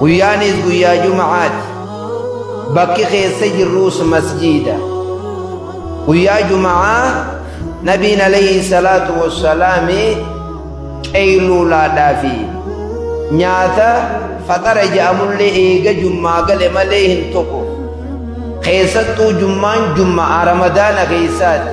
Guyyaanis guyyaa Juma'aati. Bakki keessa jirruus masjiida. Guyyaa Juma'aa Nabiin alayhi salaatu wassalaami qeeyluulaadhaa fi nyaata faxara ja'amullee eega jummaa gale malee hin tokko. Keessattuu jummaan jumma'a ramadaana keessaati.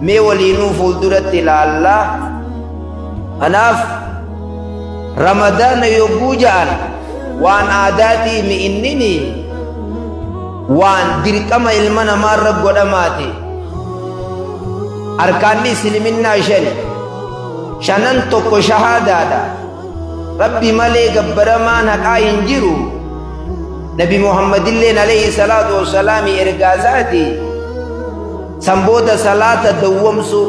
Mee waliinuu fuulduratti ilaalla. Kanaaf ramadaana yogguu ja'an waan aadaatii mi'innini waan dirqama ilma namaarra godhamaati. Arkaanni Isliminnaa shani. Shanan tokko shahaadaadha. Rabbi malee gabbaramaan haqaa hin jiru. Nabi Muhammadilleen alayhi salaatu wassalaami ergaa isaati. San booda salaata dawwamsuu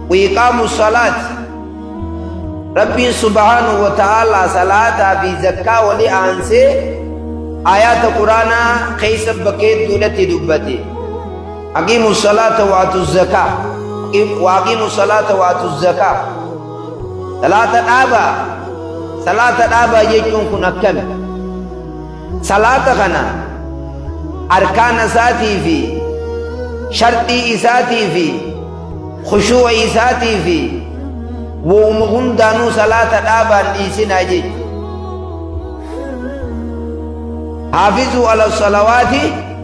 wiiqaamu salaat Rabbiin subhaanahu wa ta'aalaa salaataa fi zakkaa wali aansee aayaata quraanaa keessa bakka hedduudhatti dubbate aqiimu salaata waatu zakaa waaqiimu salaata waatu zakaa salaata dhaabaa salaata dhaabaa jechuun kun akkami Salaata kana arkaana isaatii fi sharxii isaatii fi khushuu'a isaatii fi wowma hundaanuu salaata dhaabaan dhiisinaa jechu. Haafizuu ala salawaati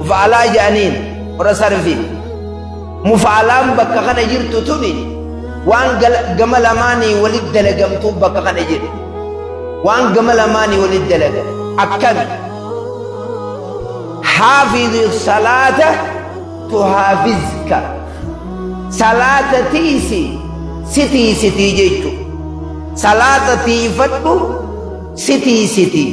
mufa'alaa jedhaniin warra sarfiin mufa'alaan bakka kana jirtu tuni waan gama lamaanii walit dalagamtuu bakka kana jirtu waan gama lamaanii walit dalagam akkami haafizi salaata tuhaafizka salaata tiisi sitii sitii jechu salaata tiifadhu sitii sitii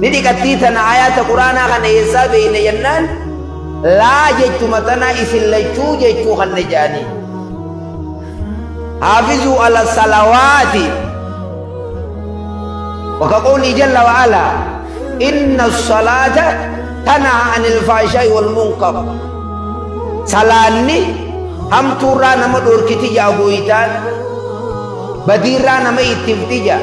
Ni dhiqattii tana ayaata quraanaa kana eessaa beeyna jennaan laa jechuma tana isin lachuu jechuu kanne ja'anii. Haafizuu ala salawaati waka qawlii jalla wa ala inna salaata tanaha anil faashaa'i wal munkar salaanni hamtuurraa nama dhorkiti jaa gooytaan badiirraa nama ittifti jaa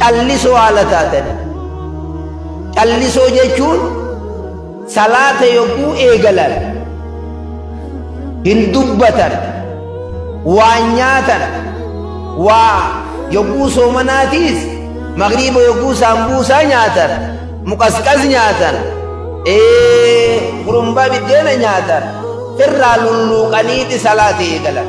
callisoo haala taatanii callisoo jechuun salaata yogguu eegalan hin dubbatan waa nyaatan waa yogguu soomanaatiis magriiba yogguu saambuusaa nyaatan muqasqas nyaatan ee gurumbaa biddeena nyaatan irraa lulluuqaniiti salaata eegalan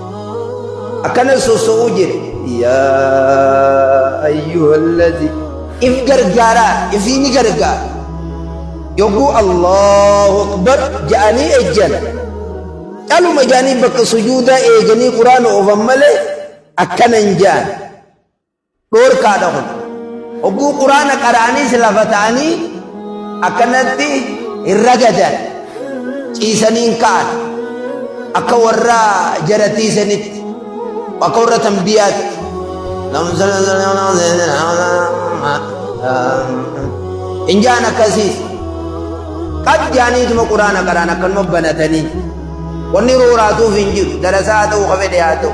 akkana soso'uu jedhe yaa ayyuhallazi if gargaaraa ifii ni gargaara yogguu allahu akbar ja'anii ejjan caluma ja'anii bakka sujuudaa eeganii quraana oofan malee akkana hin ja'an Dhoorkaadha kun. Hogguu quraana qara'aniis lafa ta'anii akkanatti hin ragadan. Ciisanii hin ka'an. Akka warra jaratii sanitti. Akka warra tanbiyaatti. Hin jaan akkasiis. Qad jaaniituma quraana qaraan akkanuma banatanii. Wanni rooraatuuf hin jiru. Darasaa haa ta'u, kafedhe haa ta'u.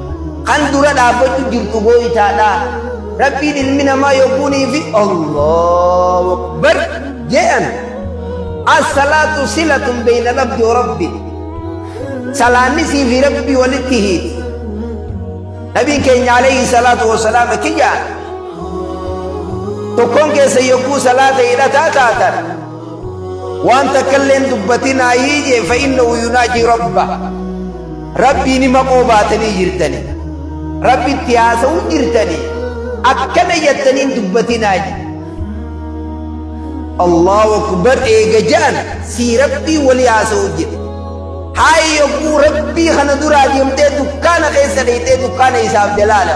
Kan dura dhaabbachu jirtu gooytaadha. Rabbiin ilmi namaa yogguunii fi Allahu Akbar jedhan as-salaatu silatun beeyna labdi wa rabbi. Salaanni sii fi rabbi walitti hiiti. Nabiin keenya alayhi salaatu wa salaam akki jedhan tokkoon keessa yogguu salaata hidhataa taatan waan takka illee hin dubbatinaa hii jee fa innahu yunaajii rabba rabbii nima qoobaatanii jirtani rabbi itti haasa'uu jirtani akkana jettanii hin dubbatinaa je allahu akbar eega ja'an sii rabbii walii haasa'uu jedhe haay yogguu rabbii kana duraa deemtee dukkaana keessa dheeytee dukkaana isaaf jalaala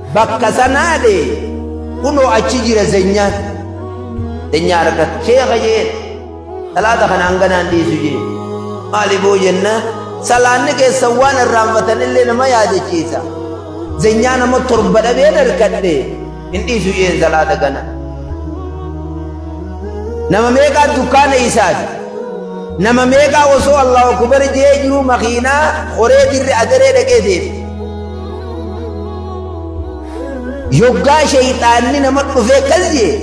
bakka sanaa dee kunoo achi jira zenyaan zenyaa argata sheeka jeen salaata kana hanganaan dhiisu jee maali boo jenna salaanni keessan waan irraanfatan illee nama yaadachiisa zenyaa nama torba dhabeen harkadhe hin dhiisu jeen salaata kana nama meeqaa dukkaana isaati nama meeqaa osoo allahu akbar jee jiru makiinaa horee dirri adaree dhaqee deema Yoggaa shayxaanni nama dhufee akkas jee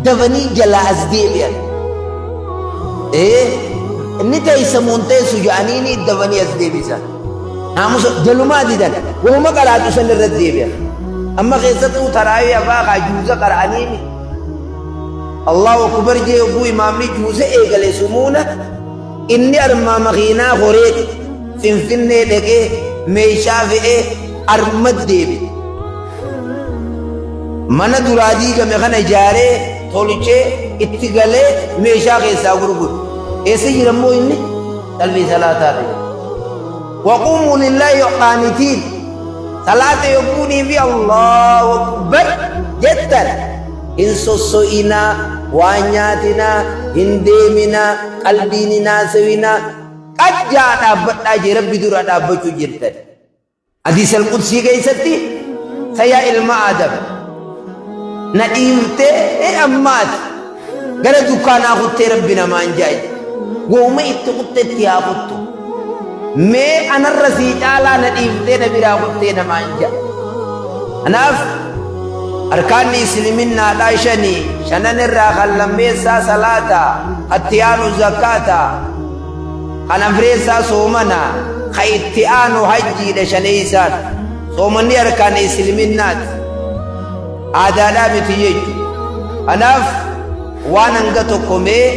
dafanii jalaa as deebi'an. Ee inni teessa moon teessu ja'anii ni dafanii as deebisan. Naamusa jalumaa didan wahuma qaraatu san irra deebi'an. Amma keessattuu taraawii afaa kaa juuza qara'anii ni. Allahu akbar jee yogguu imaamni juuza eegale sumuuna Inni armaa makiinaa koreeti Finfinnee dhaqee meeshaa fe'ee arma deebi. Mana duraa diigame kana ijaaree tolchee itti galee meeshaa keessaa gurguru. Eessa jira immoo inni? Qalbii salaataa ta'e. Waquumuu lillaahi qaanitiin. Salaata yogguunii fi Allahu Akbar jettan. Hin sosso'inaa, waa nyaatinaa, hin deeminaa, qalbiin hin haasawinaa. Qajjaa dhaabbadhaa jee Rabbi dura dhaabbachuu jirtan. Hadiis Al-Qudsii keessatti sa yaa ilma Aadam na dhiiftee ammaati gara dukkaanaa kuttee Rabbi namaan ja'a. Wahuma itti kuttetti haa kuttu. mee anarra sii caalaa na dhiiftee na biraa kuttee namaan ja'a kanaaf arkaanni isliminnaadhaa shanii shanan irraa kan lammeessaa salaata atti aanu zakkaata kan afreessaa soomana ka itti aanu hajjiidha shaneeysaan soomanni arkaana isliminnaati aadaadhaa miti jechu kanaaf waan hanga tokko mee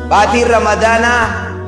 baatiin ramadaanaa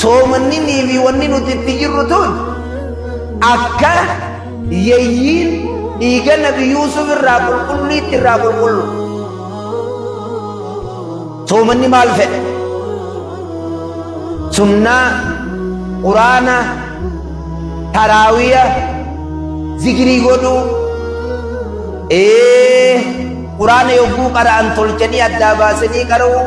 Soomanninii fi wanni nuti itti jirru tun akka yeyyiin dhiiga nabi Yuusuf irraa qulqulliitti irraa qulqullu. Soomanni maal fedhe? Sunnaa, quraana, taraawiya, zikirii godhuu. Ee, quraana yogguu qara'an tolchanii addaa baasanii qara'uu.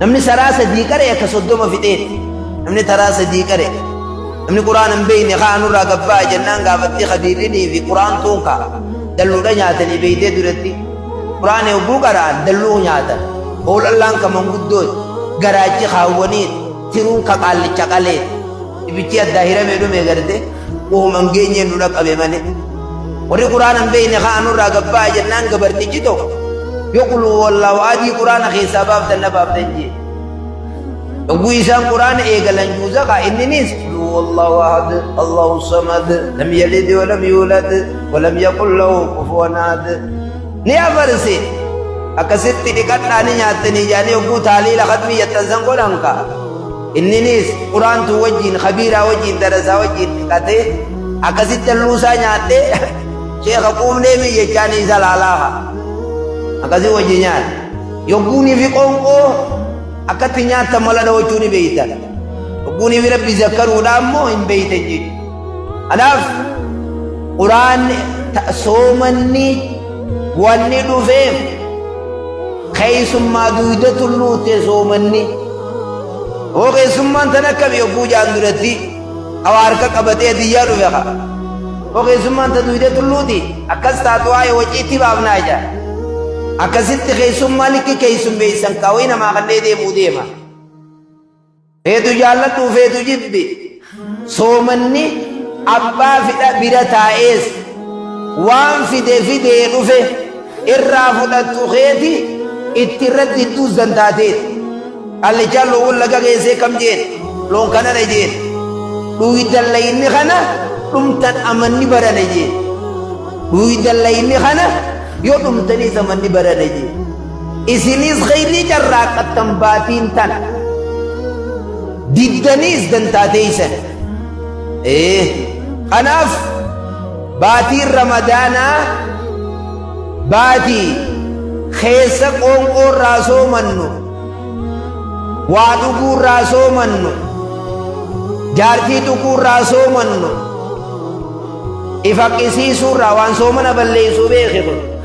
Namni saraa sadii qaree akka soddoma fixee namni taraa sadii qaree namni quraan hin beekne kaa nurraa gabbaa jennaan gaafattii kadiirrinii fi quraan tuun kaa dalluudha nyaatanii beektee duratti quraan yogguu qaraan dalluu nyaatan hoolallaan ka manguddooti garaachi kaawwaniin tiruun ka qaallicha qalee ibichi addaa hiramee dhumee gartee Uuman geenyee nu dhaqqabe malee. Warri Qur'aana hin beekne haa nurraa gabbaa jennaan gabartichi tokko yoo quluu wallaahu adii Qur'aana keessaa baaftan na baaftan jee. Yogguu isaan Qur'aana eegalan juuza kaa inninis quluu wallaahu ahad Allahu samad lam yalid wa lam yuulad wa lam yaqul lahu kufuwan ahad. Ni afarse akkasitti dhiqadhaa ni nyaattanii jaanii yogguu taaliila khatmii yattan san godhan kaa. Inninis quraantuu wajjiin kabiiraa wajjiin darasaa wajjiin dhiqatee akkasitti halluusaa nyaadhee sheeka quufnee mi jechaa ni isa laalaaha akkasii wajji nyaadhe yogguunii fi qoonqoo akkatti nyaattan mala dhawachuu ni beeytan yogguunii fi rabbi zakkaruudhaa immoo hin beeytan jechuudha. Kanaaf quraanni soomanni wanni dhufeef keessummaa duyda tulluutte soomanni hoo keessummaan tan akkami yogguu jaan duratti hawa harka qabatee diyyaa dhufe ka hoo keessummaan ta duyda tulluuti akkas taatu waa'ee waciitti baafnaa jaa akkasitti keessummaa likki keessummeessan kaawwii namaa kannee deemuu deema. Feetu jaalladhu feetu jibbi soomanni abbaa fidha bira taa'ees waan fide fidee dhufe irraa fudhattu keeti itti irratti idduu zantaateeti. Qallichaan loowwan laga geessee kam jeen loon kanana jeen dhuuydan layinni kana dhumtan amanni barana jeen dhuuydan layinni kana yoo dhumtaniis amanni barana jeen. Isiniis khayrii carraaqqattan baatiin tana. Diddaniis dantaa teeysan. Ee, kanaaf baatiin Ramadaanaa baatii keessa qoonqoo irraa soomannu, waa dhuguu irraa soomannu, jaartii tuquu irraa soomannu, ifa qisiisuu irraa waan soomana balleessuu beeke kun.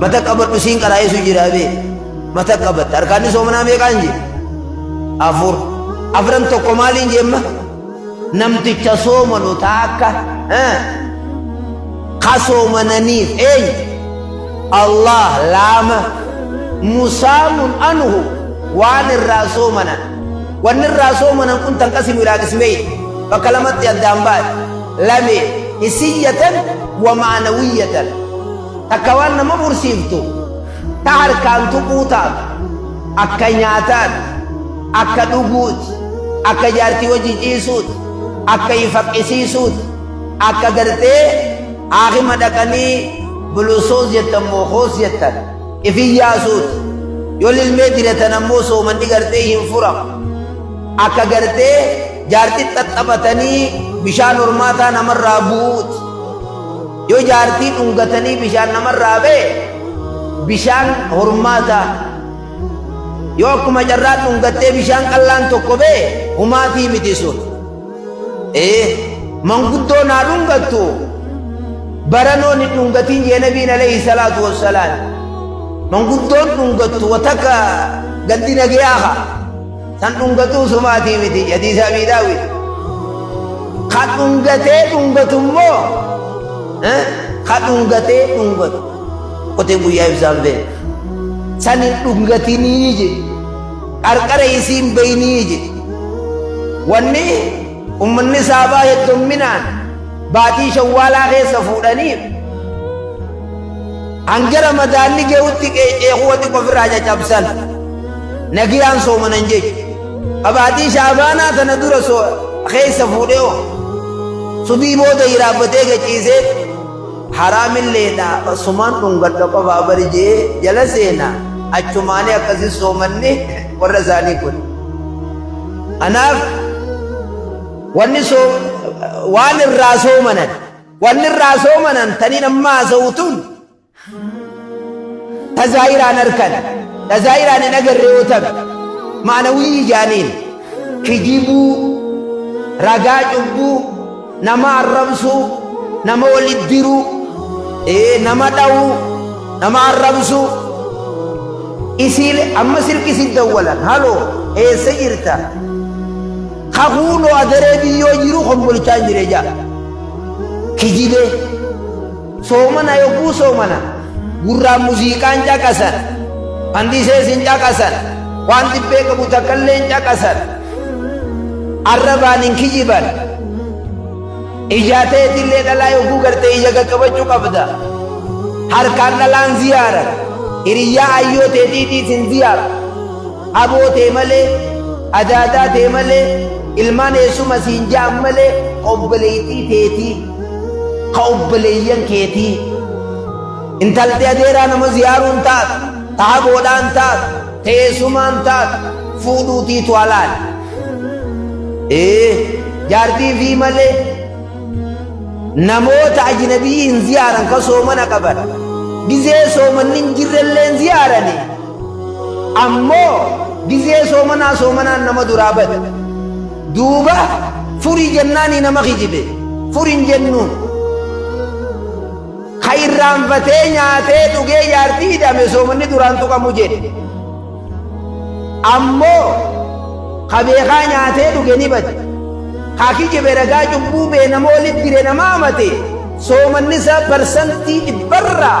mata qabadhu siin qaraa'isu jira bee mata qabatta arkaanni soomanaa meeqaan jee afur afran tokko maaliin jeemma namticha soomanu taakka ka soomananiif eenyu allah laama musaamun anhu waan irraa soomanan wanni irraa soomanan kun tan qasimu ilaa qismee bakka lamatti addaan baate lamee hisiyyatan wa maanawiyyatan takka waan nama mursiiftu ta harkaan tuquu taatu akka nyaataati akka dhuguuti akka jaartii wajji ciisuuti akka ifaqqisiisuuti akka gartee haakima dhaqanii bulusoos jettan moo hoos jettan ifin yaasuuti yoo lilmee diratan ammoo soomanni gartee hin furamu akka gartee Jaartii xaxxabatanii bishaan hormaataa namarraa bu'uuti. Yoo jaartii dhungatanii bishaan namarraa ba'e bishaan hormaataa. Yoo akkuma carraa dhungattee bishaan qallaan tokko ba'e humaatii miti sun. Ee manguddoo naa dhungattu baranoon hin dhungatiin jee nabiin alayhi salaatu wassalaam. Manguddoon dhungattu watakka gandi nagayaa haa. Tan dhungatuu sumaatii miti hadiisa abii daawwit. Kan dhungatee dhungatu immoo kan dhungatee dhungatu qoteen guyyaa ibsaan bee. San hin dhungatinii je qarqara isiin beeynii je. Wanni ummanni saabaa heddumminaan baatii shawwaalaa keessa fuudhaniif Hanga Ramadaanni geyutti qeeccee kuwa xiqqo ofirraa cacabsan nagiyaan soomanan jechu. Ka baatii Sha'abaanaa tana dura so keessa fuudhee o subii booda hiraabbatee gachiisee haraamilleedha asumaan dhungadha qofaa bari je'ee jala seena achumaanii akkasi soomanni warra isaanii kun. Kanaaf wanni so waan irraa soomanan. Wanni irraa soomanan taniin amma haasa'u tun tazaayiraan harkan tazaayiraan hin agarre yoo ta'e maanawii ijaaniin kijibuu ragaa cubbuu nama arrabsuu nama walitti diruu ee nama dhawuu nama arrabsuu isiile amma silki si dawwalan haloo eessa jirta kakuuloo adaree biyyoo jiru kombolchaan jire jaa kijibee soomana yogguu soomana gurraan muziiqaan caqasan handisees hin caqasan waan dhibbee qabu takkallee hin caqasan arrabaan hin kijiban ijaa ta'etillee dhalaa yogguu gartee ija qaqqabachuu qabda harkaan dhalaan ziyaara hiriyyaa ayyoo teetiitiitiin ziyaara Aboo tee malee, adaadaa tee malee, ilmaan eessuma siin ja'an malee ka obboleeytii teetii, ka obboleeyyan keetii. Intalti adeeraa nama ziyaaruun taatu, ta haboodhaan taatu, ta eessumaan taatu fuudhuutiitu halaali. Ee, jaartii ifii malee namoota ajinabi'ii hin ziyaaran ka soomana qaban, gizee soomanni hin jirrellee hin ziyaaranii? Ammoo gizee soomanaa soomanaan nama duraa bade. Duuba furii jennaanii nama kijibe. Furin jennuun. Ka irraanfatee nyaatee dhugee jaartii hidhame soomanni duraan tuqamu jedhe. Ammoo ka beekaa nyaatee dhuge ni bade. Ka kijibe ragaa cubbuu bee nama walitti dire nama amate soomanni isaa parsantii dhibbarraa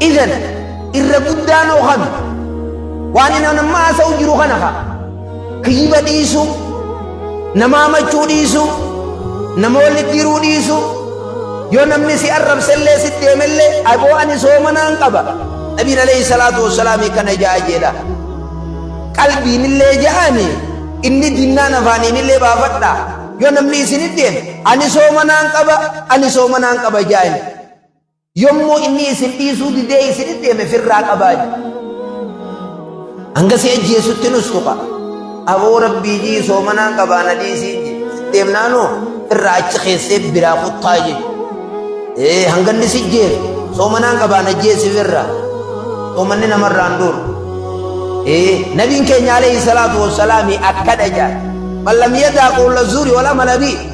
Idan irra guddaan hoo kami? Waan inni amma haasa'u jiru kana kaa. Kiyyiba dhiisu, nama hamachuu dhiisu, nama walitti hiruu dhiisu. Yoo namni si arrabsellee si deemellee aboo ani soomanaan qaba. Nabiin alayhi salaatu wassalaam kana ja'a jedha. Qalbiinillee ja'ani inni dinnaan afaaniinillee baafadha. Yoo namni isin deeme ani soomanaan qaba, ani soomanaan qaba ja'ani. Yommuu inni isin dhiisuu didee isin deeme firraa qabaa jedhe. Hanga si ajjeesutti nus tuqa. Aboo rabbii jii soomanaan qabaa na dhiisiin jedhe. Deemnaanoo firraa achi keessee biraa kuttaa jedhe. Ee hanga inni si jeesu soomanaan qabaa na jeesi firraa. Soomanni namarraan duuru. Ee nabiin keenya alayhi salaatu wassalaami akkana jedha. Man lam yadaa qawla zuuri wal amala bii.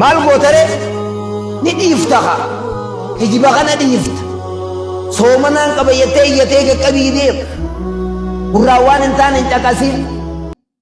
Maal gootare ni dhiifta kaa hijiba kana dhiifta soomanaan qaba jettee iyyatee qaqqabii deema gurraa waan hin taane hin caqasiin.